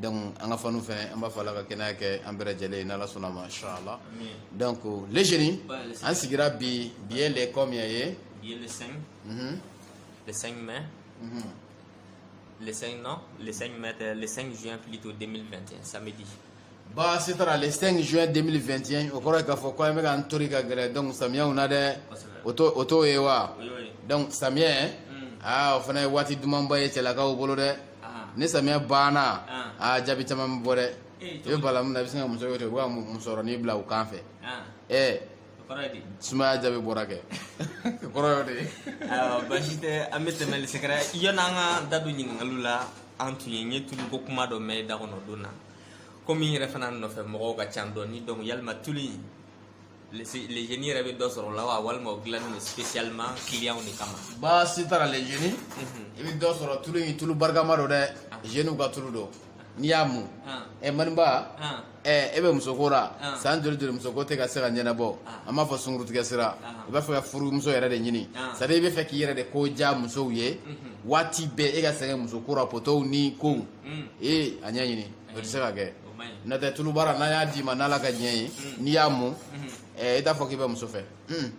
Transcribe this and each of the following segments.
donc an ka fanu fɛnɛ an b'a fɔ ala ka kɛnɛya kɛ an bɛɛ lajɛlen n'ala sɔnna ma inchallah donc le génie an sigira bi bi ye le combien ye bi ye le 5 mhm. le 5 mai mhm. le 5 non le 5 mai euh, le 5 juin plutôt 2021 samedi baasi t'a la le 5 juin 2021 o kɔrɔ ye k'a fɔ ko an bɛ k'an tori ka gɛrɛ donc samiyɛw na dɛ o t'o ye wa donc samiyɛ aa o fana ye waati dumanba ye cɛlakaw bolo dɛ ni samiya banna aa jaabi caman bɛ bɔ dɛ i bɛ bala min na i bɛ sin ka muso wele u ka musɔrɔnin bila u kan fɛ ɛɛ sumaya jaabi bɔra kɛ kɔrɔ y'o de ye baasi tɛ an bɛ tɛmɛ le secret yann'an ka da don ɲininkaliw la an tun ye n ye tulu ko kuma dɔ mɛn da kɔnɔ don na komi n yɛrɛ fana nɔfɛ mɔgɔw ka ca dɔɔnin donc yalima tulu in le génie yɛrɛ bɛ dɔ sɔrɔ la wa walima o dilannen don spécialement clients de kama baasi t'a la le génie i bɛ dɔ sɔrɔ tulu in tulu barikama don dɛ jeniw ka tulu don n'i y'a mun ɛ maniba ɛ e bɛ musoko la san joli joli musoko tɛ ka se ka ɲɛnabɔ an m'a fɔ sungurutigɛ sira i b'a fɛ ka furumuso yɛrɛ de ɲini c'est à dire i b'a fɛ k'i yɛrɛ de ko diya musow ye waati bɛɛ e ka sɛgɛn musoko la potow ni kow ee a ɲɛɲini o tɛ se ka kɛ n'o tɛ tulubara n'an y'a d'i ma n'ala ka diɲɛ ye hmm. n'i y'a mun hmm. eh, i t'a fɔ k'i bɛ muso fɛ hmm.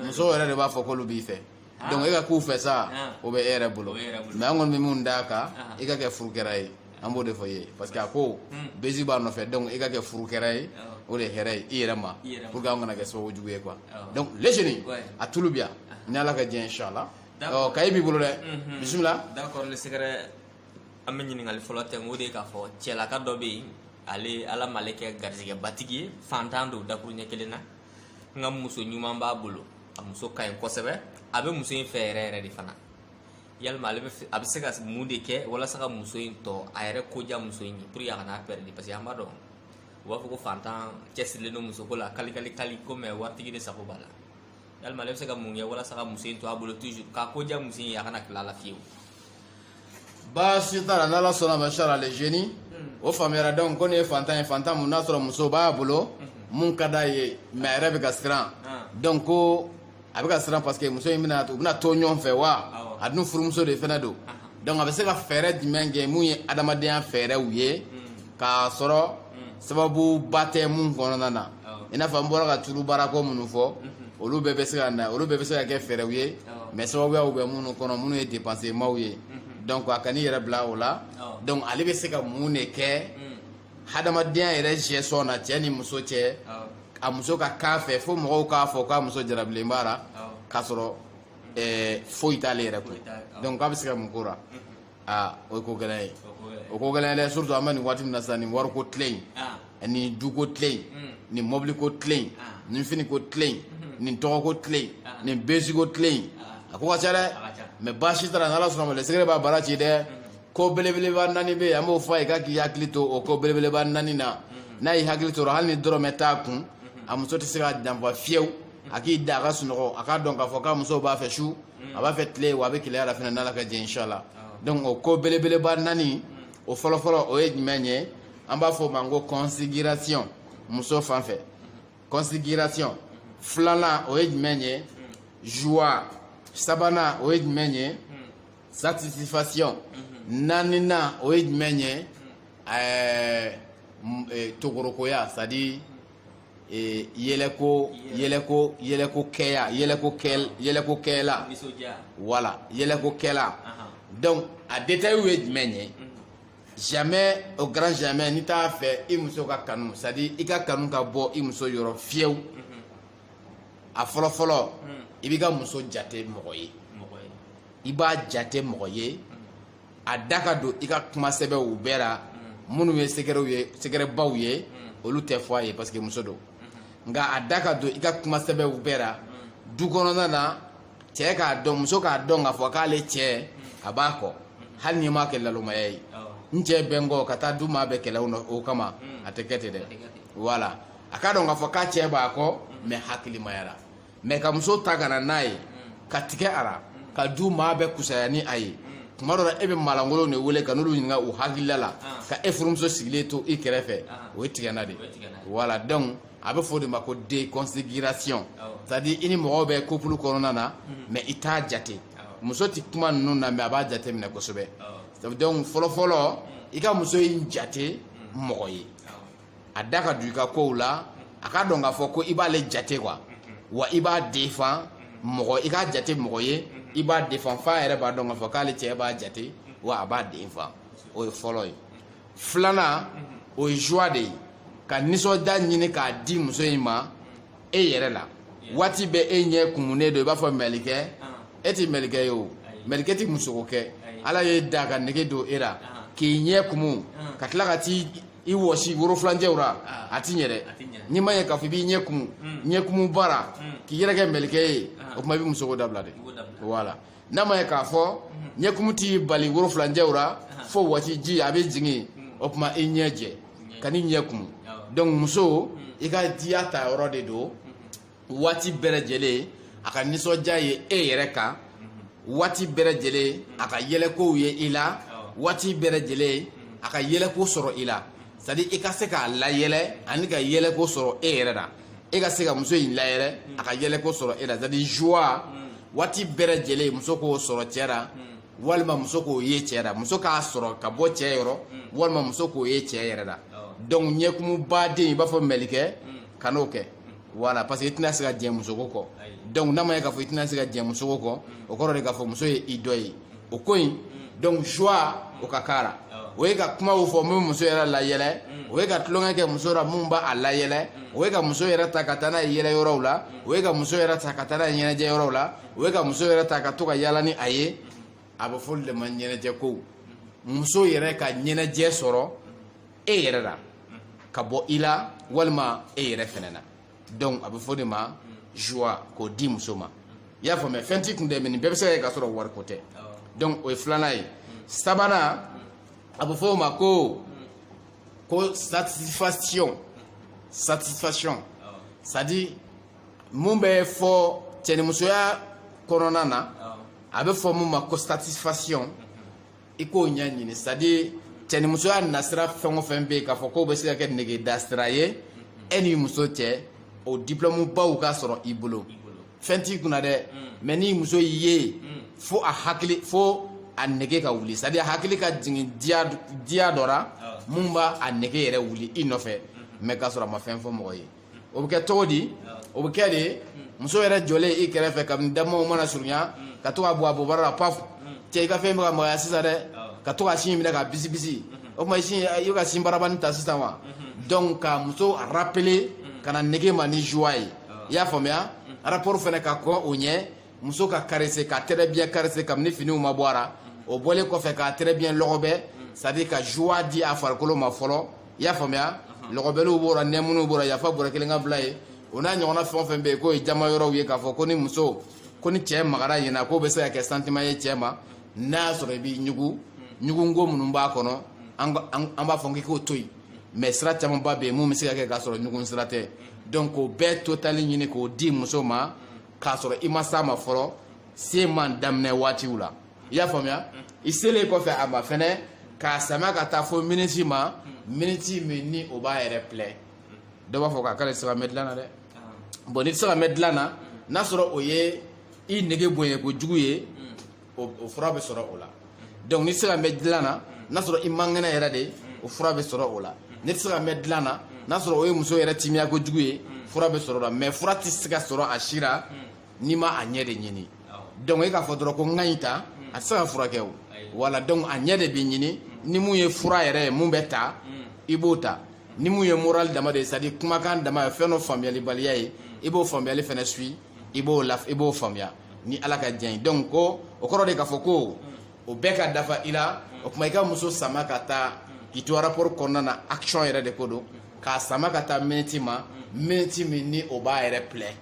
muso yɛrɛ de b'a fɔ k'olu b'i fɛ ah. donc e ka k'u fɛ sa ah. o bɛ e yɛrɛ bolo mɛ an kɔni bɛ min d'a kan ah. i ka kɛ furukɛra ye an b'o de fɔ i ye parce que a ko bezi b'a nɔfɛ donc i ka kɛ furukɛra ye o de ye hɛrɛ ye i yɛrɛ ma pour que an kana kɛ sababu jugu ye quoi donc le génie a tulu bi yan ni ala ka diɲɛ inchallah ɔ kaye b'i bolo dɛ bisimila d'accord le secret an bɛ ɲininkali fɔlɔ ta o de ye k'a fɔ cɛlaka dɔ bɛ yen ale ala m'ale kɛ garijɛgɛbatigi ye fantan don dakuruɲɛ kelen na nka muso ɲuman b'a bolo a muso ka ɲi kosɛbɛ a bɛ muso in fɛ yɛrɛ yɛrɛ de fana yalima ale bɛ a bɛ se ka mun de kɛ walasa ka muso in to a yɛrɛ ko diya muso in ye pour que a kana pɛrɛdi parce que an b'a dɔn u b'a fɔ ko fantan cɛsirilen don musoko la kalikali kali ko mɛ waritigi de sago b'a la yalima ale bɛ se ka mun kɛ walasa ka muso in to a bolo toujours k'a ko diya muso in ye a kana tila a la fiyewu baasi t'a la n'ala sɔnna ma inchallah le génie hmm. o faamuyara donc ko nin ye fantan ye fantan mun n'a sɔrɔ muso b'a bolo hmm. mun ka d'a ye mɛ a yɛrɛ bɛ ka siran ah. donc ko a bɛ ka siran parce que muso in bɛna u bɛna to ɲɔgɔn fɛ wa a dun furumuso de fana don ah. donc a bɛ se ka fɛɛrɛ jumɛn kɛ mun ye adamadenya fɛɛrɛw ye hmm. k'a sɔrɔ sababuba tɛ mun kɔnɔna na i n'a fɔ an bɔra ka tulu baarako minnu fɔ olu bɛɛ bɛ se ka na olu bɛɛ bɛ se ka kɛ fɛɛrɛw ye mɛ sababuyaw bɛ minnu kɔnɔ minnu ye dépensemaw ye donc a kan'i yɛrɛ bila o la donc ale bɛ se ka mun de kɛ hadamadenya yɛrɛ gestion na cɛ ni muso cɛ a muso ka k'a fɛ fo mɔgɔw k'a fɔ k'a muso jarabilen b'a la k'a sɔrɔ foyi t'ale yɛrɛ kun donc k'a bɛ se ka mun k'o la aa o ye ko gɛlɛn ye o ko gɛlɛn dɛ surtout an bɛ nin waati min na sisan nin wariko tile in ah. ni duko tile in hmm. nin mɔbiliko tile in ah. nin finiko tile in hmm. nin tɔgɔko tile in ah. nin besiko tile in a ko ka ca dɛ mais baasi t'a ra n'ala sɔnna ma le secret b'a baara ci dɛ hmm. ko belebeleba naani bɛ yen an b'o fɔ a ye k'a k'i hakili to o ko belebeleba naani na n'a y'i hakili t'o ra hali ni dɔrɔmɛ t'a kun a muso tɛ se k'a janfa fiyewu a k'i da a ka sunɔgɔ a k'a dɔn k'a fɔ k'a muso b'a fɛ su a b'a fɛ tile wa a bɛ keleya la fana n'ala ka jɛ inshallah donc o ko belebeleba naani o fɔlɔfɔlɔ o ye jumɛn ye an b'a fɔ o ma ko considération muso fan fɛ considération filanan o ye jumɛn ye joie sabanan o ye jumɛn ye satisfaction naaninan o ye jumɛn ye ɛɛ togorokoya c'est à dire ee yɛlɛko yɛlɛko yɛlɛko kɛya yɛlɛko kɛ yɛlɛko kɛla voilà yɛlɛko kɛla donc a détails ye jumɛn ye mhm. jamais au grand jamais n'i t'a fɛ i muso ka kanu c'est à dire i ka kanu ka bɔ i muso yɔrɔ fiyewu mhm. a fɔlɔ fɔlɔ mhm. i b'i ka muso jate mɔgɔ ye i b'a jate mɔgɔ ye a da ka don i ka kuma sɛbɛw bɛɛ la minnu ye secretw ye secretbaw ye olu tɛ fɔ a ye parce que muso don nka a da ka don i ka kuma sɛbɛw bɛɛ la du kɔnɔna na cɛ k'a dɔn muso k'a dɔn k'a fɔ k'ale cɛ a b'a kɔ hali n'i m'a kɛ lalomaya ye n cɛ bɛ n kɔ ka taa du maa bɛɛ kɛlɛ o kama a tɛ kɛ ten dɛ voilà a k'a dɔn k'a fɔ k'a cɛ b'a kɔ mais hakilimaya ra mais ka muso ta ka na n'a ye ka tigɛ a la ka du maa bɛɛ kusaya ni a ye tuma dɔ la e bɛ maalankolonw de wele ka n'olu ɲininka u hakilila la ka e furumuso sigilen to i kɛrɛfɛ o ye tigɛna de voilà donc a bɛ fɔ o de ma ko déconsidération c'est à dire i ni mɔgɔw bɛ couple kɔnɔna na mais i t'a jate muso tɛ kuma ninnu na mais a b'a jate minɛ kosɛbɛ donc fɔlɔfɔlɔ i ka muso in jate mɔgɔ ye a da ka don i ka kow la a k'a dɔn k'a fɔ ko i b'ale jate quoi wa i b'a défend mɔgɔ i k'a jate mɔgɔ ye i b'a défend f'a yɛrɛ b'a dɔn k'a fɔ k'ale cɛ b'a jate wa a b'a défend o ye fɔlɔ ye filanan o ye joie de ye ka nisɔndiya ɲini k'a di muso in ma e yɛrɛ la waati bɛɛ e ɲɛ kumunen don i b'a fɔ mɛlikɛ e tɛ mɛlikɛ ye o mɛlikɛ tɛ musoko kɛ ala y'e da k'a nege don e la k'i ɲɛ kumu ka tila ka t'i i wɔsi worofilancɛw ra ah. a ti ɲɛ dɛ n'i ma ɲɛ k'a fɔ i b'i ɲɛ kumu hmm. ɲɛ kumu baara hmm. k'i yɛrɛ kɛ mɛlikɛ ye ah. o tuma i bɛ musoko dabila de voilà n'a ma ɲɛ k'a fɔ hmm. ɲɛ kumu t'i bali worofilancɛw ra ah. fo wɔsi ji a bɛ jigin o tuma i ɲɛ jɛ kan'i ɲɛ kumu donc muso i ka diya ta yɔrɔ de don waati bɛɛ lajɛlen a ka nisɔndiya ye e yɛrɛ kan waati bɛɛ lajɛlen a ka yɛlɛkow ye i la waati bɛɛ lajɛlen a ka yɛlɛko sɔrɔ i la c'est à dire i ka se k'a layɛlɛ ani ka yɛlɛko sɔrɔ e yɛrɛ la e ka se ka muso in layɛlɛ a ka yɛlɛko sɔrɔ e la c'est à dire joie waati bɛɛ lajɛlen muso k'o sɔrɔ cɛ la walima muso k'o ye cɛ la muso k'a sɔrɔ ka bɔ cɛ yɔrɔ walima muso k'o ye cɛ yɛrɛ la donc ɲɛkumubaden i b'a fɔ mɛlikɛ kan'o kɛ voilà parce que i tɛna se ka diɲɛ musoko kɔ donc n'a ma ye k'a fɔ i tɛna se ka diɲɛ musoko kɔ o kɔrɔ de k'a fɔ muso ye i dɔ ye o ko in donc joie o ka k'a la o ye ka kumaw fɔ min muso yɛrɛ layɛlɛ o ye ka tulonkɛ kɛ muso la min b'a layɛlɛ o ye ka muso yɛrɛ ta ka taa n'a ye yɛlɛ yɔrɔw la o ye ka muso yɛrɛ ta ka taa n'a ye ɲɛnajɛ yɔrɔw la o ye ka muso yɛrɛ ta ka to ka yaala ni a ye a bɛ fɔ olu de ma ɲɛnajɛ kow muso yɛrɛ ka ɲɛnajɛ sɔrɔ e yɛrɛ la ka bɔ i la walima e yɛrɛ fɛnɛ na donc a bɛ fɔ de ma joie k'o di muso ma i y'a faamuya fɛn t'i kun dɛ mais nin bɛɛ bɛ se ka kɛ k'a sɔrɔ wari ko tɛ donc o ye filanan ye sabanan a bɛ fɔ o ma ko ko satisfaction satisfaction c'est à dire mun bɛ fɔ cɛnimusoya kɔnɔna na a bɛ fɔ mun ma ko satisfaction i k'o ɲɛɲini c'est à dire cɛnimusoya nasira fɛn o fɛn bɛ yen k'a fɔ k'o bɛ se ka kɛ negeda sira ye e ni muso cɛ o diplɔmu baw ka sɔrɔ i bolo fɛn t'i kunna dɛ mais ni muso y'i ye fo a hakili fo a nege ka wuli c'est à dire a hakili ka jigin diya dɔ ra mun b'a a nege yɛrɛ wuli i nɔfɛ mais k'a sɔrɔ a ma fɛn fɔ mɔgɔ ye o bɛ kɛ cogo di o bɛ kɛ de muso yɛrɛ jɔlen i kɛrɛfɛ kabini da tuma mana surunya ka to ka bɔ a bobara la paf cɛ i ka fɛn bɛ ka magaya sisan dɛ ka to ka sin minɛ ka bisi bisi o tuma i sin i bɛ ka sin barabani ta sisan wa donc ka muso rappeler ka na nege ma ni joie ye i y'a faamuya rapport fana ka kɔn o ɲɛ muso ka caresser ka très bien caresser kabini finiw ma bɔ a ra o bɔlen kɔfɛ ka très bien lɔgɔbɛ c'est à dire ka joie di a farikolo ma fɔlɔ i y'a faamuya lɔgɔbɛliw b'o la nɛmuniw b'o la yafa bɔrɛ kelen ka bila ye o n'a ɲɔgɔnna fɛn o fɛn bɛ yen k'o ye jama yɔrɔw ye k'a fɔ ko ni muso ko ni cɛ magara yen na k'o bɛ se ka kɛ sentiment ye cɛ ma n'a y'a sɔrɔ i b'i ɲugu ɲugunko minnu b'a kɔnɔ an b'a fɔ k'i k'o to yen mais sira camanba bɛ yen mun bɛ se ka kɛ k'a sɔrɔ ɲugun sira tɛ donc k'o bɛɛ totali ɲini k'o di muso ma k'a sɔrɔ i ma s'a ma fɔlɔ se man daminɛ waatiw la i y'a faamuya i selen kɔfɛ a ma fɛnɛ k'a sama ka taa fo miniti ma miniti min ni o b'a yɛrɛ plaire dɔ b'a fɔ k'a k'ale tɛ se ka mɛn dilan na dɛ bon n'i tɛ se ka mɛn dilan na n'a sɔrɔ o ye i nege bonya kojugu ye o fura bɛ sɔrɔ o la donc n'i tɛ se ka mɛn dilan na n'a sɔrɔ i man kɛnɛ yɛrɛ de o fura bɛ sɔrɔ o la n'i tɛ se ka mɛn dilan na n'a sɔrɔ o ye muso yɛrɛ timiya kojugu ye fura bɛ sɔrɔ o la mais fura tɛ se ka sɔrɔ a si la n'i ma a ɲɛ de ɲini donc e k'a fɔ dɔrɔn ko n ka nin ta a tɛ se ka furakɛ o wala donc a ɲɛ de bɛ ɲini ni mun ye fura yɛrɛ ye mun bɛ ta i b'o ta ni mun ye moral dama de ye c'est à dire kumakan dama ye fɛn dɔ faamuyalibaliya ye i b'o faamuyali fana suit i b'o la i b'o faamuya ni ala ka diɲɛ ye donc ko o kɔrɔ de k'a fɔ ko o bɛɛ ka dafa i la o tuma i ka muso sama ka taa k'i to rapport kɔnɔna na action yɛrɛ de ko don k'a sama ka taa miniti ma miniti min ni o b'a yɛrɛ plaire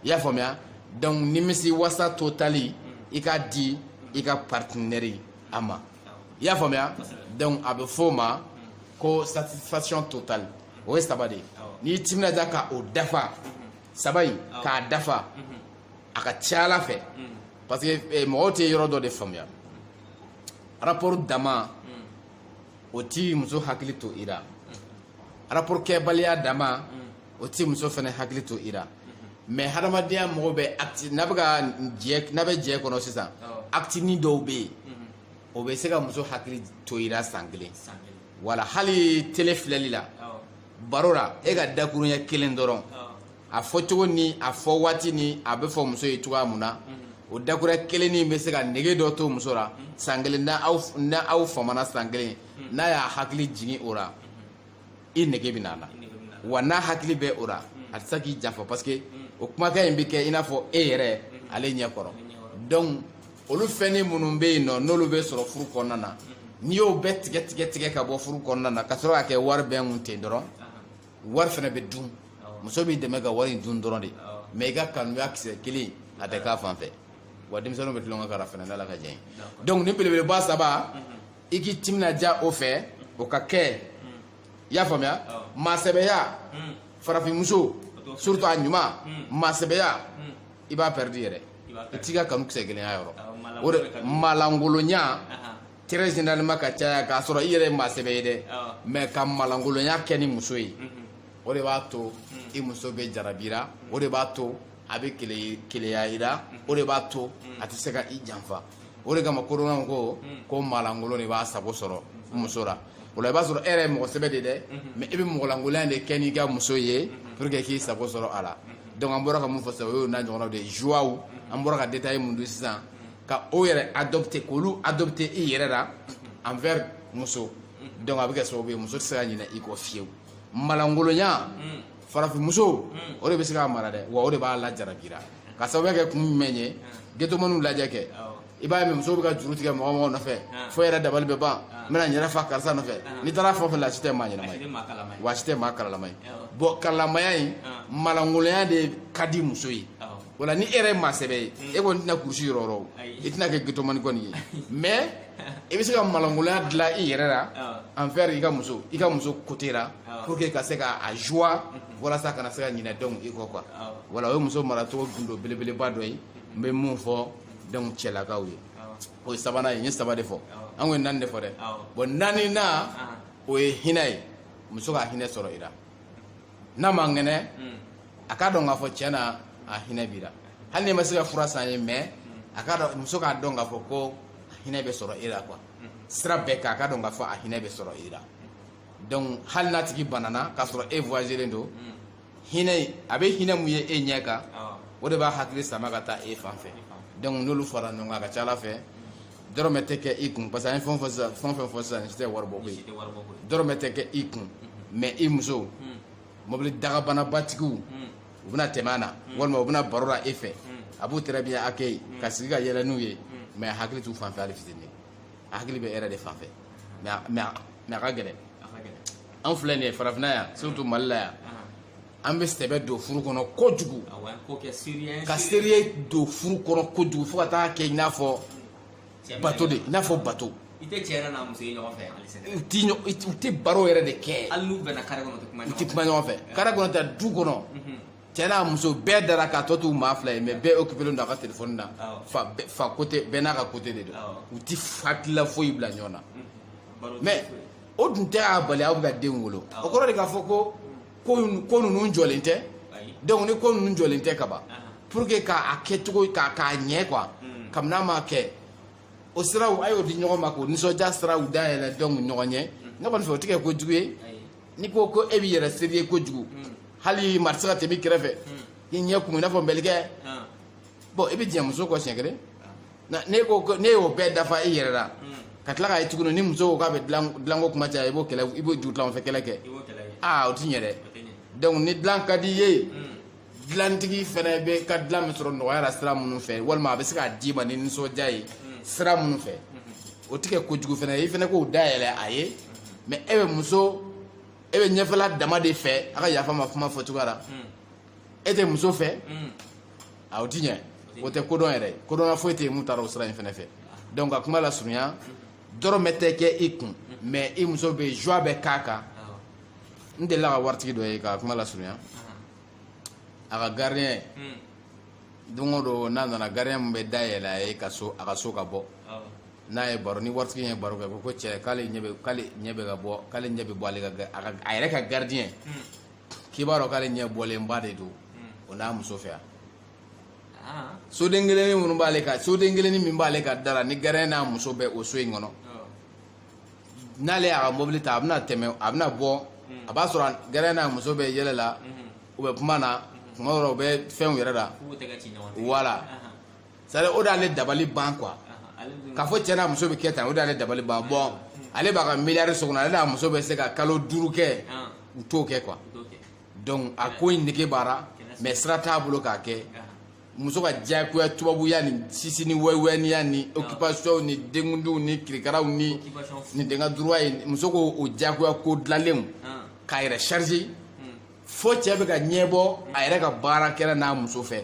i y'a faamuya donc nimisi wasa total i k'a di i ka partenaire a ma i y'a faamuya donc a bɛ fɔ o ma ko satisfaction totale o ye saba de ye n'i timinadiya ka o dafa saba in k'a dafa a ka ca ala fɛ parce que eh, mɔgɔw tɛ yɔrɔ dɔ de faamuya rapport dama o ti muso hakili to i la rapport kɛbaliya dama o ti muso fana hakili to i la mais hadamadenya mɔgɔ bɛ acte n'a bɛ ka jɛ n'a bɛ jɛ kɔnɔ sisan actenin dɔw bɛ yen o bɛ se ka muso hakili to i la san kelen wala hali télé filɛli la baro la e ka dakurunya kelen dɔrɔn a fɔ cogo ni a fɔ waati ni a bɛ fɔ muso ye cogoya mun na o dakurunya kelen nin bɛ se ka nege dɔ to muso la san kelen n'aw famana san kelen n'a y'a hakili jigin o la i nege bɛ n'a la wa n'a hakili bɛ o la a tɛ se k'i janfa parce que o kumakan in bɛ kɛ i n'a fɔ e yɛrɛ ale ɲɛ kɔrɔ donc olu fɛnnin minnu bɛ yen nɔ n'olu bɛ sɔrɔ furu kɔnɔna na n'i y'o bɛɛ tigɛ tigɛ tigɛ ka bɔ furu kɔnɔna na ka sɔrɔ ka kɛ wari bɛn kun ten dɔrɔn wari fana bɛ dun muso b'i dɛmɛ ka wari in dun dɔrɔn de mais i ka kanuya kisɛ kelen a tɛ k'a fan fɛ wa denmisɛnninw bɛ tulonkɛ k'a la fana n'ala ka jɛ donc nin belebeleba saba i k'i timinadiya o fɛ o ka kɛ i y'a faamuya maasɛbɛya farafinmuso surtout a ɲuman maasɛbɛya i b'a pɛridi yɛrɛ i t'i ka kanu kisɛ kelen y'a yɔrɔ ah, o de malangolonya très généralement ka caya k'a sɔrɔ i yɛrɛ ye maa sɛbɛ ye dɛ ah. mais ka malangolonya kɛ ni muso ye mhm. o de b'a to hmm. i muso bɛ jarabi i la o de b'a to a bɛ keleya i la mhm. o de b'a to hmm. a tɛ se ka i janfa o de kama kodɔnnaw ko ko maalankolon de b'a sago sɔrɔ muso la o la i b'a sɔrɔ e yɛrɛ ye mɔgɔ sɛbɛ de dɛ mais i bɛ mɔgɔlankolonya de kɛ n'i ka muso ye pour que k'i sago sɔrɔ a la donc an bɔra ka mun fɔ sisan o y'o n'a ɲɔgɔnnaw de ye joiyaw an bɔra ka détail mun di sisan ka o yɛrɛ adopter k'olu adopter i yɛrɛ la envers muso donc a bɛ kɛ sababu ye muso tɛ se ka ɲinɛ i kɔ fiyewu malankolonya farafinmuso o de bɛ se k'a mara dɛ wa o de b'a lajarabi i la ka sababu kɛ kun jumɛn ye getomaniw lajɛ kɛ i b'a ye muso bɛ ka juru tigɛ mɔgɔ mɔgɔ nɔfɛ fo yɛrɛ dabali bɛ ban n bɛna n yɛrɛ fa karisa nɔfɛ n'i taara fɛn fɛn la si tɛ maa ɲɛnama ye wa si tɛ maa karalama ye bon karalamaya in malankolonya de ka di muso ye voilà ni e yɛrɛ ye maa sɛbɛ ye e kɔni tɛna kurusi yɔrɔ yɔrɔ i tɛna kɛ getomani kɔni ye mais i bɛ se ka malankolonya dilan i yɛrɛ la envers i ka muso i ka muso côté la pour que ka se ka a joie walasa a kana se ka ɲinɛ donc i kɔ quoi voilà o ye muso maracogo gundo belebeleba dɔ ye n bɛ min fɔ donc cɛlakaw ye o ye sabanan ye n ye saba de fɔ an ko ye naani de fɔ dɛ bon naaninan o ye hinɛ ye muso ka hinɛ sɔrɔ i la n'a man kɛnɛ hmm. a k'a dɔn k'a fɔ tiɲɛ na a hinɛ b'i la hali n'i ma se ka fura san a ye mais hmm. a k'a dɔn muso k'a dɔn k'a fɔ ko a hinɛ bɛ sɔrɔ i la quoi hmm. sira bɛɛ kan a k'a dɔn k'a fɔ a hinɛ bɛ sɔrɔ i la donc hali n'a tigi banana k'a sɔrɔ e voyagelen don hinɛ a bɛ hinɛ min ye e ɲɛ kan o de b'a hakili sama ka taa e fan fɛ donc n'olu fara ɲɔgɔn kan a ka ca a la fɛn dɔrɔmɛ tɛ kɛ i kun parce que an ye fɛn fɛn sisan fɛn fɛn fɔ sisan si tɛ waribɔko ye dɔrɔmɛ tɛ kɛ i kun mais i muso mobili dakabanabatigiw u bɛna tɛmɛ a la walima u bɛna baro la e fɛ a b'u très bien accueillir ka sigi ka yɛlɛ n'u ye mais a hakili t'u fanfɛ hali fitini a hakili bɛ e yɛrɛ de fanfɛ mais a ka gɛlɛn an filɛ nin ye farafinna yan surtout mali la yan an bɛ sɛbɛ don furu kɔnɔ kojugu ka sérieux don furu kɔnɔ kojugu fo ka taa kɛ i n'a fɔ bato de i n'a fɔ bato i tɛ cɛ yɛrɛ n'a muso ye ɲɔgɔn fɛ u tɛ u tɛ baro yɛrɛ de kɛ hali n'u bɛnna kare kɔnɔ u tɛ kuma ɲɔgɔn fɛ kare kɔnɔ ta du kɔnɔ mhm. cɛ n'a muso bɛɛ dara k'a tɔ t'u maa fila ye mais bɛɛ occupelen don a ka telefɔni na fa fa côté bɛɛ n'a ka côté de don u tɛ hakilila foyi bila ɲɔgɔn na mais o dun tɛ a bali aw bɛ ka den wolo o kɔrɔ de k'a fɔ ko ko ninnu jɔlen tɛ donc ni ko ninnu jɔlen tɛ kaban pour que k'a kɛ cogo k'a k'a ɲɛ quoi hmm. kabini a ma kɛ o siraw a y'o di ɲɔgɔn ma k'o nisɔndiya siraw dayɛlɛ donc ɲɔgɔn ɲɛ hmm. ne kɔni fɛ o tɛ kɛ ko jugu ye n'i ko ko e b'i yɛrɛ sérieux kojugu hmm. hali maa tɛ se ka tɛmɛ i kɛrɛfɛ i ɲɛ kumu i n'a fɔ mɛlikɛ bon i bɛ diɲɛ muso kɔ siɲɛ kelen ne ko ne y'o bɛɛ dafa i yɛrɛ la ka tila k'a ye tuguni ni muso ko k'a bɛ dilanko kuma caya i b'o kɛlɛ i b'o dugutila fɛ kɛlɛ kɛ aa o ti ɲɛ dɛ donc ni dilan ka di i ye dilantigi fɛnɛ bɛ ka dilan min sɔrɔ nɔgɔya la sira minnu fɛ walima a bɛ se k'a d'i ma ni nisɔndiya ye sira minnu fɛ o ti kɛ kojugu fɛnɛ ye i fɛnɛ k'o dayɛlɛ a ye mais e bɛ muso e bɛ ɲɛfɛla dama de fɛ a ka yafa n ma kuma fɔ cogoya la e tɛ muso fɛ mm. a o ti ɲɛ o tɛ kodɔn yɛrɛ kodɔnna foyi tɛ yen min taara o sira in fana fɛ donc ka kuma lasurunya dɔrɔmɛ tɛ kɛ i kun mais i muso bɛ joie bɛ k'a kan n delila ka waritigi dɔ ye ka kuma lasurunya a ka gardien don o don n'a nana gardien min bɛ da yɛlɛ a ye ka so a ka so ka bon n'a ye baro ni waritigi ye baro kɛ ko ko cɛ k'ale ɲɛ bɛ k'ale ɲɛ bɛ ka bɔ k'ale ɲɛ bɛ bɔ ale ka a yɛrɛ ka gardien k'i b'a dɔn k'ale ɲɛ bɔlenba de don o n'a muso fɛ yan soden kelenni minnu b'ale ka soden kelenni min b'ale ka da la ni gardien n'a muso bɛ o so in kɔnɔ n'ale y'a ka mobili ta a bɛna tɛmɛ a bɛna bɔ a b'a sɔrɔ gardien n'a muso bɛ yɛlɛ la u bɛ kuma na tuma dɔw la u bɛ fɛn yɛrɛ da wala sari o d'ale dabali ban quoi k'a fɔ cɛ n'a muso bɛ kɛ tan o d'ale dabali ban bon ale b'a ka miliyari so kɔnɔ ale n'a muso bɛ se ka kalo duuru kɛ u t'o kɛ quoi donc a ko in nege b'a la mais sira t'a bolo k'a kɛ muso ka diyagoya tubabuya ni chichi ni wɛwɛniya ni occupation ni denkundiw ni kirikaraw ni den ka droit ye muso ko o diyagoya ko dilanlen k'a yɛrɛ charger fo cɛ bɛ ka ɲɛbɔ a yɛrɛ ka baarakɛla n'a muso fɛ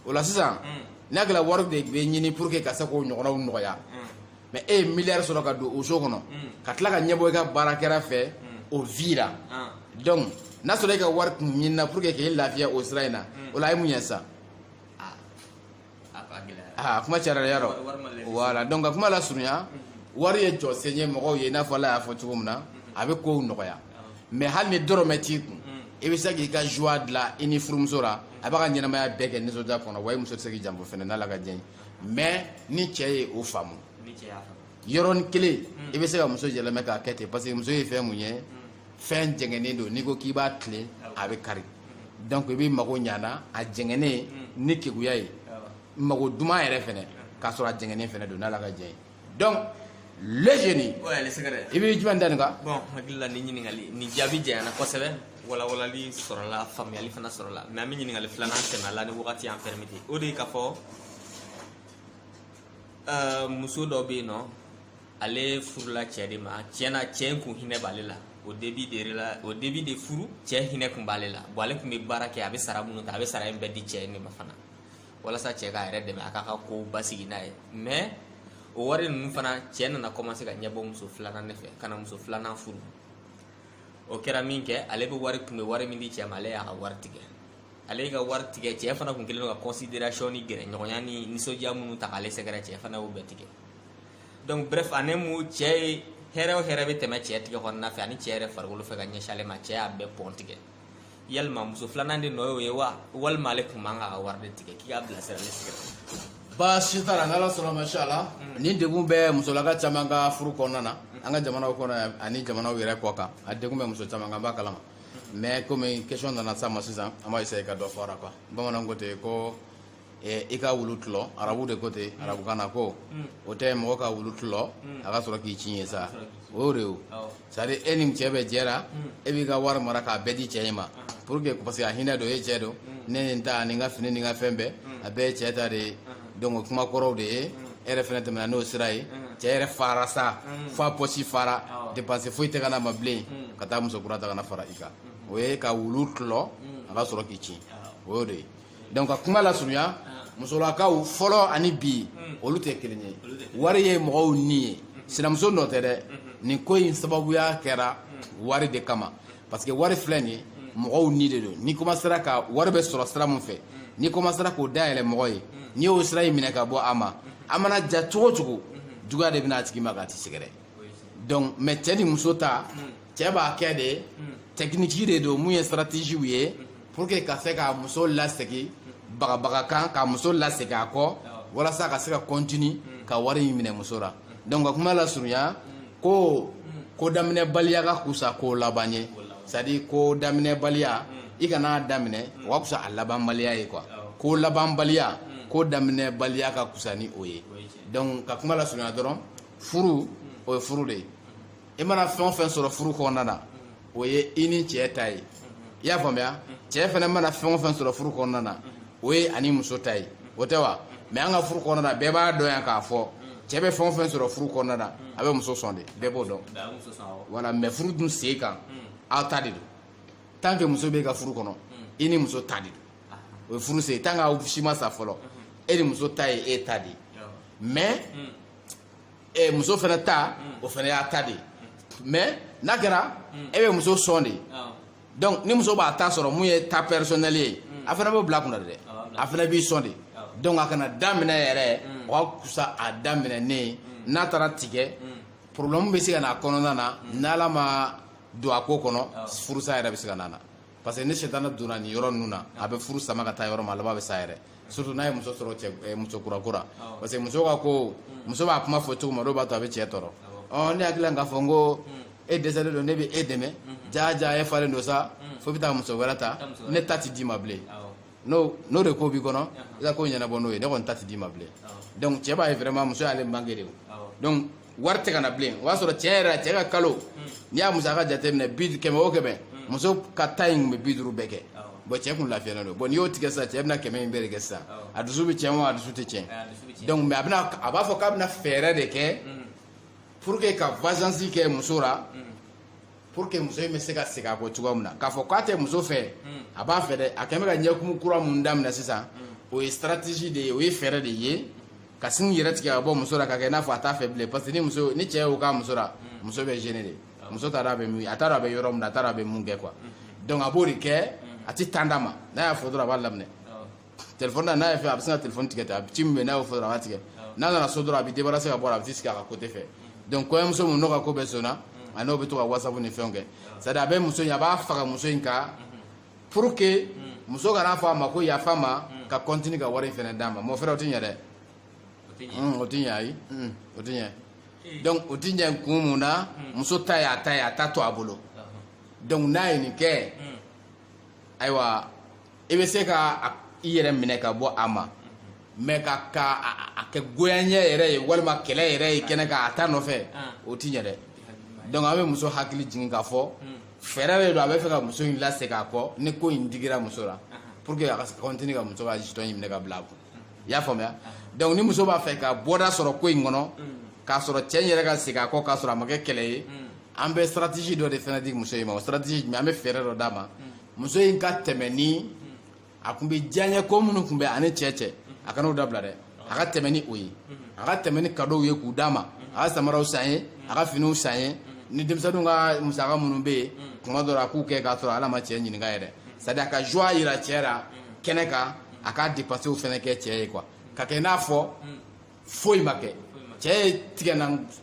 o la sisan mm. n'a kɛra wari de bɛ ɲini pour que ka se k'o ɲɔgɔnnaw nɔgɔya mm. mais e ye miliyari sɔrɔ ka don o so kɔnɔ mm. ka tila ka ɲɛbɔ i ka baarakɛla fɛ o vie la ah. donc n'a sɔrɔ e ka wari tun ɲinina pour que k'e lafiya o sira in na o la a ye mun ɲɛ sisan a kuma cayara dɛ yarɔ voilà donc ka kuma lasurunya wari ye jɔsen ye mɔgɔw ye i n'a fɔ ala y'a fɔ cogo min na a bɛ kow nɔgɔya mais hali ni dɔrɔmɛ t'i kun i bɛ se k'i ka joie dilan i ni furumuso la a b'a ka ɲɛnamaya bɛɛ kɛ nisɔndiya kɔnɔ wa i muso tɛ se k'i janfa fɛnɛ n'ala ka diɲɛ ye mais ni cɛ ye o faamu yɔrɔnin kelen i bɛ se ka muso yɛlɛmɛ k'a kɛ ten parce que muso ye fɛn min ye fɛn jɛngɛnen don n'i ko k'i b'a tilen a bɛ kari donc i b'i mago ɲa n'a jɛngɛnen hmm. ni keguya ye mago duman yɛrɛ fɛnɛ k'a sɔrɔ a jɛngɛnen fɛnɛ don n'ala ka diɲɛ ye donc le génie i bɛ jumɛn da nin kan bon n hakili la nin ɲininkali nin jaabi janyana kosɛbɛ walawalali sɔrɔla faamuyali fana sɔrɔla mais an bɛ ɲininkali filanan sɛmɛ a la ni wagati y'an pɛrɛmite o de ye k'a fɔ euh, muso dɔ bɛ yen nɔ ale furula cɛ de ma tiɲɛna cɛ in kun hinɛ b'ale la au début de la au début de furu cɛ hinɛ kun b'ale la bon ale kun bɛ baara kɛ a bɛ sara minnu ta a bɛ sara in bɛɛ di cɛ in de ma fana walasa cɛ k'a yɛrɛ dɛmɛ a k'a ka kow basigi n'a ye mais o wari ninnu fana cɛ nana commencer ka ɲɛbɔ muso filanan de fɛ ka na muso filanan furu o kɛra min kɛ ale bɛ wari kun bɛ wari min di cɛ ma ale y'a ka wari tigɛ ale y'a ka wari tigɛ cɛ fana kun kɛlen don ka consideration ni gɛrɛɲɔgɔnya ni nisɔndiya minnu ta k'ale sɛgɛrɛ cɛ fana y'o bɛɛ tigɛ donc bref en un mot cɛ ye hɛrɛ o hɛrɛ bɛ tɛmɛ cɛ tɛgɛ kɔnɔna fɛ ani cɛ yɛrɛ farikolo fɛ ka ɲɛsin ale ma cɛ y'a bɛɛ pɔn tigɛ yalima muso filanan de nɔ y'o ye wa walima ale tun man kan ka wari de tigɛ k'i k'a bilasira ne sɛgɛrɛ baasi t'a la n'ala sɔnna masha Allah mm. nin degun bɛ musolaka caman ka furu kɔnɔna na an ka jamanaw kɔnɔ ani jamanaw yɛrɛ kɔ kan a degun bɛ muso caman kan an b'a kalama mais komi question nana s'a ma sisan an b'a essayer ka dɔ fɔ a la quoi bamananw ko ten ko eh, i ka wulu tulɔ arabu de ko ten mm. arabukan na ko mm. o tɛ mɔgɔ ka wulu tulɔ mm. a ka sɔrɔ k'i cin ye sa o y'o de ye c'est à dire e ni cɛ bɛ jɛra e b'i ka wari mara k'a bɛɛ di cɛ in ma pour que parce que a hinɛ don e cɛ don ne ni n ta ani n ka fini ni n ka fɛn bɛɛ a bɛɛ ye cɛ ta de ye donc o kuma kɔrɔ de ye e yɛrɛ fɛnɛ tɛmɛna n'o sira ye cɛ yɛrɛ fara sa fo a pɔsi fara dépense foyi tɛ ka na a ma bilen ka taa muso kura ta ka na fara i kan o ye ka wulu tulɔ a ka sɔrɔ k'i cin o y'o de ye donc ka kuma lasurunya ah. musolakaw fɔlɔ ani bi hmm. olu tɛ kelen ye wari ye mɔgɔw ni ye hmm. sinamuso nɔ tɛ dɛ hmm. nin ko in sababuya kɛra wari de kama parce que wari filɛ nin mɔgɔw ni de don n'i komasera ka wari bɛ sɔrɔ sira min fɛ n'i komasera k'o dayɛlɛ mɔgɔ ye n'i y'o sira in minɛ ka bɔ a ma a mana diya cogo o cogo juguya de bɛ na a tigi ma k'a tigi sɛgɛrɛ donc mais cɛ ni muso ta cɛ b'a kɛ de technique de don mun ye stratégiew ye pour que ka se ka muso lasegin bagabaga kan ka muso lasegin a kɔ walasa ka se ka continue ka wari in minɛ muso la donc ka kuma lasurunya ko ko daminɛbaliya ka kusa ko laban ye c'est à dire ko daminɛbaliya i kana daminɛ o ka kusa a labanbaliya ye quoi ko labanbaliya ko daminɛbaliya ka kusa ni o ye donc ka kuma lasurunya dɔrɔn furu o ye furu de ye i mana fɛn o fɛn sɔrɔ furu kɔnɔna na o ye i ni cɛ ta ye i y'a faamuya cɛ fɛnɛ mana fɛn o fɛn sɔrɔ furu kɔnɔna na o ye a ni muso ta ye o tɛ wa mais an ka furu kɔnɔna na bɛɛ b'a dɔn yan k'a fɔ cɛ bɛ fɛn o fɛn sɔrɔ furu kɔnɔna na a bɛ muso sɔn de bɛɛ b'o dɔn voilà mais furu dun sen kan aw ta de don tant que muso b'e ka furu kɔnɔ i ni muso ta de don o ye furu sen tant que aw si ma sa fɔlɔ e ni muso ta ye e ta de ye mais ɛ muso fɛnɛ ta o fɛnɛ y'a ta de ye mais n'a kɛra e bɛ muso sɔn de donc ni muso b'a ta sɔrɔ min y'a ta personnel ye a fana b'o bila a kunna de dɛ a fana b'i sɔn de donc a kana daminɛ yɛrɛ o ka kusa a daminɛnen n'a taara tigɛ problème bɛ se ka na a kɔnɔna na n'ala ma don a ko kɔnɔ furusa yɛrɛ bɛ se ka na na parce que ni sitana donna nin yɔrɔ ninnu na a bɛ furu sama ka taa yɔrɔ ma a laban bɛ sa yɛrɛ surtout n'a ye muso sɔrɔ cɛ eh, muso kura kura parce que muso ka ko hmm. muso b'a kuma fɔ cogo ma dɔw b'a to a bɛ cɛ tɔɔrɔ ɔ ne hakili la k'a fɔ n ko hmm. e dɛsɛlen don ne bɛ e dɛmɛ hmm. jaa jaa e falen don sa fo i bɛ taa muso wɛrɛ ta ne ta tɛ d'i ma bilen n'o n'o de ko b'i kɔnɔ i ka ko ɲɛnabɔ n'o ye ne kɔni ta tɛ d'i ma bilen donc cɛ b'a ye vraiment muso y'ale manquer de donc wari tɛ ka na bilen o b'a sɔrɔ tiɲɛ yɛrɛ la cɛ ka kalo n'i y'a musaka jateminɛ kɛmɛ o kɛmɛ muso ka ta in tun bɛ bi duuru bɛɛ kɛ bon cɛ kun lafiyalen don bon n'i y'o tigɛ sisan cɛ bɛna kɛmɛ in bɛɛ de kɛ sisan a dusu bɛ tiɲɛ wa a dusu tɛ tiɲɛ donc mais a bɛna a b'a fɔ k'a bɛna fɛɛrɛ de kɛ pour que ka vengeance kɛ muso la pour que muso in bɛ se ka segin a kɔ cogoya min na k'a fɔ k'a tɛ muso fɛ a b'a fɛ dɛ a kɛn bɛ ka ɲɛkumu kura mun daminɛ sisan o ye stratégie de ye o ye fɛɛrɛ de ye ka sin i yɛrɛ tigɛ ka bɔ muso la ka kɛ i n'a fɔ a t'a fɛ bilen parce que ni muso ni cɛ y'o k'a muso la muso bɛ gêner de muso t'a dɔn a bɛ min a t'a dɔn a bɛ yɔrɔ min na a t'a dɔn a bɛ mun kɛ quoi donc a b'o de kɛ a tɛ temps d'a ma n'a y'a fɔ dɔrɔn a b'a laminɛ telefɔni na n'a ye fɛ a bɛ sin ka telefɔni tigɛ ten a bɛ ci min bɛ n'a y'o fɔ dɔrɔn a b'a tigɛ n'a nana so dɔrɔn a bɛ débarrasser ka bɔ a la a bɛ t'i sigi a ka côté fɛ donc kɔɲɔmuso min n'o ka ko bɛ senna a n'o bɛ to ka whatsapp ni fɛnw kɛ c'est à dire a bɛ muso in a b'a faga muso in kan pour que muso ka n'a fɔ a ma ko yafa ma ka continue ka wari in fɛnɛ d'a ma mon frère o tɛ ɲɛ dɛ o tɛ ɲɛ ayi o tɛ ɲɛ donc o tɛ ɲɛ kun mun na muso ta ye a ta ye a ta to a bolo donc n'a ye nin kɛ ayiwa i bɛ se ka i yɛrɛ minɛ ka bɔ a ma mais ka ka a kɛ goyaɲɛ yɛrɛ ye walima kɛlɛ yɛrɛ ye kɛnɛ kan a ta nɔfɛ o ti ɲɛ dɛ donc an bɛ muso hakili jigin k'a fɔ fɛɛrɛ de don a bɛ fɛ ka muso in lasegin a kɔ ni ko in digira muso la pour que a ka continue ka muso ka jeton in minɛ ka bila a kun i y'a faamuya donc ni muso b'a fɛ ka bɔda sɔrɔ ko in kɔnɔ k'a sɔrɔ cɛ in yɛrɛ ka segin a kɔ k'a sɔrɔ a ma kɛ kɛlɛ ye an bɛ stratégie dɔ de fɛnɛ di muso in ma o stratégie jumɛn an bɛ fɛɛrɛ dɔ d'a ma muso in ka tɛmɛ ni a tun bɛ diyaɲɛ ko minnu tun bɛ ani cɛ cɛ a kana o dabila dɛ a ka tɛmɛ ni o ye a ka tɛmɛ ni kadow ye k'u d'a ma a ka samaraw san ye a ka finiw san ye ni denmisɛnninw ka musaka minnu bɛ yen tuma dɔ la a k'u kɛ k'a sɔrɔ ale ma cɛ ɲininka yɛrɛ c'est à dire a ka joie yira cɛ la kɛnɛ kan a ka dépensew fɛnɛ kɛ cɛ ye quoi ka kɛ i n'a fɔ hmm. foyi ma kɛ cɛ ye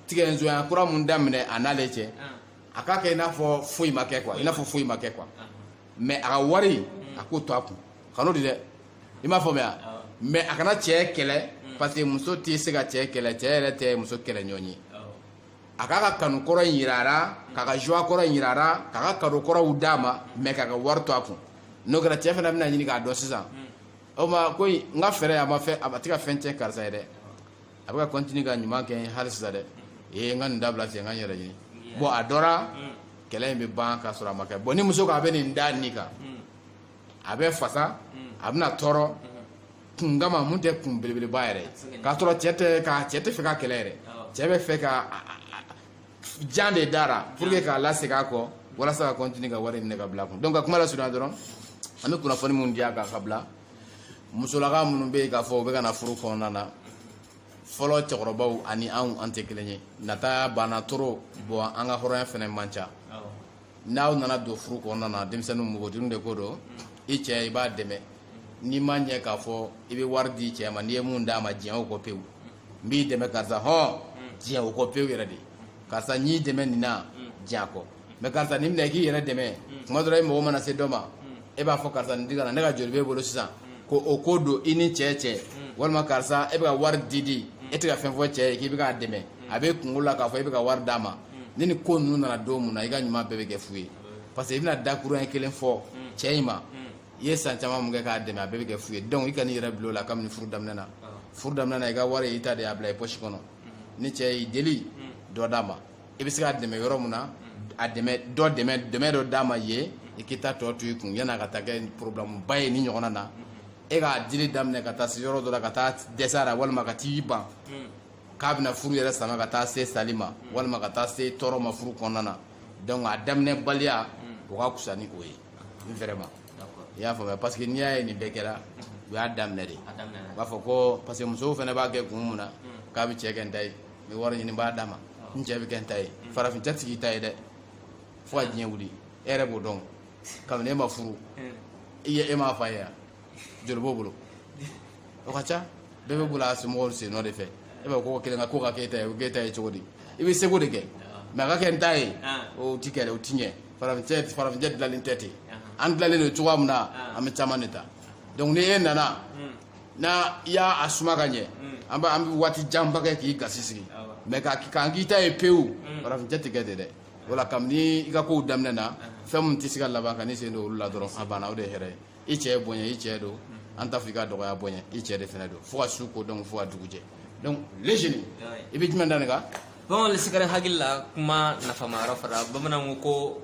tigɛnzoya kura mun daminɛ a n'ale cɛ hmm. a k'a kɛ i n'a fɔ foyi ma kɛ quoi i n'a fɔ foyi ma kɛ quoi hmm. mais a ka wari a k'o to a kun kan'o di dɛ i m'a faamuya mais a kana cɛ kɛlɛ parce que muso tɛ se ka cɛ kɛlɛ cɛ yɛrɛ tɛ muso kɛlɛ ɲɔgɔn ye a k'a ka kanu kɔrɔ in yira a la k'a ka joie kɔrɔ in yira a la k'a ka cadeau kɔrɔw d'a ma mais k'a ka wari to a kun n'o kɛra cɛ fana bɛna ɲini k'a dɔn sisan hmm. o ma ko n ka fɛɛrɛ a ma fɛn a tɛ ka fɛn tiɲɛ karisa ye dɛ a bɛ ka continuer ka ɲuman kɛ n ye hali sisan dɛ ee n ka nin dabila ten n ka n yɛrɛ ɲini bon a dɔra hmm. kɛlɛ in bɛ ban k'a sɔrɔ a ma kɛ bon ni muso ko a bɛ nin da nin kan hmm. a bɛ fasa a bɛna tɔɔrɔ kun kama mun tɛ kun belebeleba yɛrɛ k'a sɔrɔ cɛ tɛ ka cɛ tɛ fɛ ka kɛlɛ yɛrɛ cɛ bɛ fɛ ka jan de d'a ra pour que k'a lasegin a kɔ walasa ka continuer ka wari minɛ ka bila a kun donc ka kuma lasurunya dɔrɔn an bɛ kunnafoni minnu di a kan ka bila musolaka minnu bɛ yen k'a fɔ u bɛ ka na furu kɔnɔna na fɔlɔ cɛkɔrɔbaw ani anw an tɛ kelen ye nata bana trop bon an ka hɔrɔnya fana man ca n'aw nana don furu kɔnɔna na denmisɛnninw npogotigiw de ko don i cɛ i b'a dɛmɛ n'i ma ɲɛ k'a fɔ i bɛ wari di cɛ ma n'i ye mun d'a ma diɲɛ o kɔ pewu n b'i dɛmɛ karisa hɔn diɲɛ o kɔ pewu yɛrɛ de karisa n y'i dɛmɛ nin na diɲɛ a kɔ mais karisa nin minɛ i k'i yɛrɛ dɛmɛ tuma dɔ la i mago mana se dɔ ma e b'a fɔ karisa nin di ka na ne ka joli b'e bolo sisan ko o ko don i ni cɛ cɛ walima karisa e bɛ ka wari di di e tɛ ka fɛn fɔ cɛ ye k'i bɛ k'a dɛmɛ a bɛ kunkolo la k'a fɔ e bɛ ka wari d'a ma ni ni ko ninnu nana don mun na i ka ɲuman bɛɛ bɛ kɛ fu ye parce que i bɛna dakurunɲɛ kelen fɔ cɛ in ma i ye san caman mun kɛ k'a dɛmɛ a bɛɛ bɛ kɛ fu ye donc i kan'i yɛrɛ bila o la kabini furu daminɛ na furu daminɛ na i ka wari i ta de y'a bila i poche kɔnɔ ni cɛ y'i deli dɔ d'a ma i bɛ se k'a dɛmɛ yɔrɔ mun na a dɛmɛ dɔ dɛmɛ dɛmɛ dɔ d'a ma yen i k'i ta tɔ to i kun yan'a ka taa kɛ problème ba ye nin ɲɔgɔnna na e k'a dili daminɛ ka taa se yɔrɔ dɔ la ka taa dɛsɛ a la walima ka t'i ban k'a bɛna furu yɛrɛ sama ka taa se sali ma walima ka taa se tɔɔrɔ ma furu kɔnɔna na donc a daminɛ baliya o ka kusa ni o ye vraiment i y'a faamuya parce que n'i y'a ye nin bɛɛ kɛra u y'a daminɛ de u b'a fɔ ko parce que musow fana b'a kɛ kun mun na k'a bɛ cɛ kɛ n ta ye n bɛ wari ɲini n b'a d'a ma n cɛ bɛ kɛ n ta ye farafin cɛ ti k'i ta ye dɛ fo ka diɲɛ wuli e yɛrɛ b'o dɔn kabini e ma furu i ye e m'a fa ye yan joli b'o bolo o ka ca bɛɛ bɛ boli a somɔgɔw sen nɔ de fɛ e b'a ko kelen ka ko ka k'e ta ye o k'e ta ye cogo di i b'i seko de kɛ mais a ka kɛ n ta ye o ti kɛ o ti ɲɛ farafin cɛ farafin cɛ dilanlen tɛ ten an dilanlen don cogoya min na an bɛ caman de ta donc ni e nana n'a i y'a a suma ka ɲɛ an bɛ an bɛ waati janba kɛ k'i gasi sigi mais ka k'an k'i ta ye pewu farafin cɛ tɛ kɛ ten dɛ wala kabini i ka kow daminɛ na fɛn min tɛ se ka laban kan'i sen don olu la dɔrɔn a banna o de ye hɛrɛ ye i cɛ ye bonya i cɛ don an t'a fɔ i ka dɔgɔya bonya i cɛ de fana don fo ka su ko don fo ka dugu jɛ donc le jeune i bɛ jumɛn da nin kan bon le secret hakili la kuma nafama yɛrɛ fɔra bamananw ko ko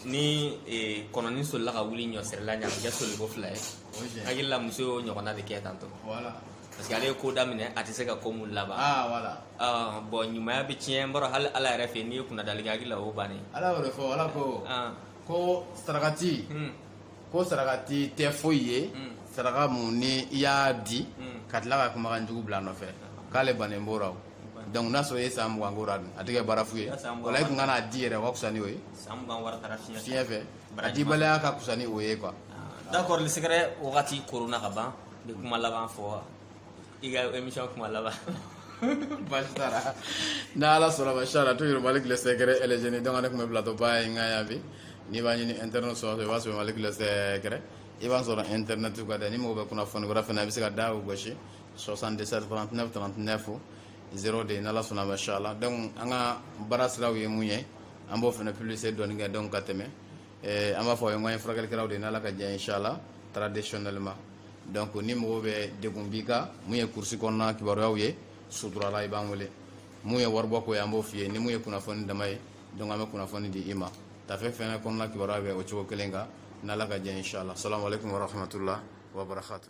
ni eh, kɔnɔni solila ka wuli ɲɔsirila ɲamajɛ soliko fila ye hakili la muso y'o ɲɔgɔnna de kɛ tantôt parce que ale ye ko daminɛ a tɛ se ka ko mun laban ah, ah, bon ɲumaya bɛ tiɲɛ n b'a dɔn hali ala yɛrɛ fɛ n'i ye kunnadali kɛ hakili la o bannen ala y'o de fɔ ala ko ah. ko sarakati hmm. ko sarakati tɛ foyi ye hmm. saraka mun ni i y'a di hmm. ka tila ka kumakan jugu bila nɔfɛ k'ale bannen b'o la donc n'a sɔrɔ i ye san mugan k'o la dun a tɛ kɛ baara fu ye walayi i tun kan'a di yɛrɛ o ka fisa ni o ye fiɲɛ fɛ a dibaliya ka fisa ni o ye quoi ah, d'accord le secret wagati koronna ka ban n bɛ kuma laban fɔ i ka émission kuma laban basi t'a la n'ala sɔnn'a ma inshallah toujours malick le secret et les jeunes donc ne tun bɛ plateau ba in kan yan bi n'i b'a ɲini internet sɔrɔ i b'a sɔrɔ malick le secret i b'a sɔrɔ internet kan dɛ ni mɔgɔ bɛ kunnafoni wɛrɛ fana i bɛ se ka da o gosi 77 39 39 zéro deux n'ala sɔnn'a ma inshallah donc an ka baara siraw ye mun ye an b'o fana publicité dɔɔni kɛ donc ka tɛmɛ eh, an b'a fɔ anw ye furakɛlikɛlaw de n'ala ka diɲɛ inshallah traditionnellement donc ni mɔgɔ bɛ degun b'i kan mun ye kurusi kɔnɔna kibaruyaw ye suturala i b'an wele mun ye waribɔ ko ye an b'o f'i ye ni mun ye kunnafoni dama ye donc an bɛ kunnafoni di i ma tafe fɛnɛ kɔnɔna kibaruya bɛ o cogo kelen kan n'ala ka diɲɛ inshallah salamu alaikum warahmatullah wabarakatuh